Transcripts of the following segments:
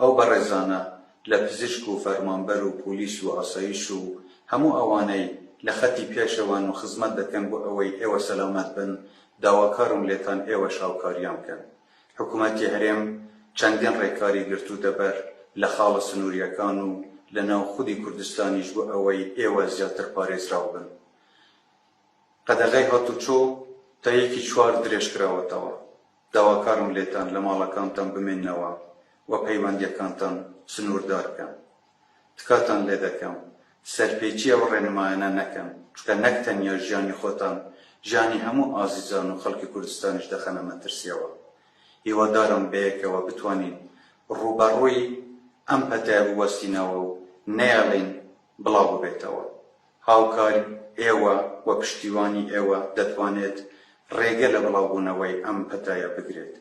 ئەو بەڕێزانە لە پزیشک و فەرمانبەر و پۆلیس و ئاسایش و هەموو ئەوانەی لە خەتی پێشەوەن و خزمەت دەکەن بۆ ئەوەی ئێوە سەلامەت بن، داواکارم لێتان ئێوەش هاوکاریان بکەن. حکومەتی هەرێم چەندین ڕێکاری گرتووتە بەر لە خاڵە سنوورییەکان و لە ناو خودی کوردستانیش بۆ ئەوەی ئێوە زیاتر پارێزراو بن. قەدەغەی هاتوچۆ تا یەکی چوار درێژکراوەتەوە. داواکارم لێتان لە ماڵەکانتان بمێننەوە و پەیوەندییەکانتان سنووردار بکەن. تکاتان لێ دەکەم سەرپێچی ئەو ڕێنمایانە نەکەن، چونکە نەک تەنیا ژیانی خۆتان، ژیانی هەموو ئازیزان و خەڵکی کوردستانیش دەخەنە مەترسییەوە. هیوادارم بەیەکەوە بتوانین ڕووبەڕووی ئەم پەتایە بوەستینەوە و نەیەڵین بڵاو ببێتەوە. هاوکاری ئێوە و پشتیوانی ئێوە دەتوانێت ڕێگە لە بڵاوبوونەوەی ئەم پەتایە بگرێت.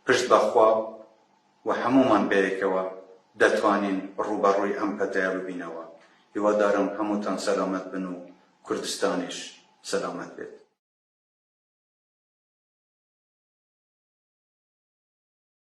پشت بە خوا و هەموومان بەیەکەوە دەتوانین ڕووبەڕووی ئەم پەتایە ببینەوە. هیوادارم هەمووتان سەلامەت بن و کوردستانیش سەلامەت بێت.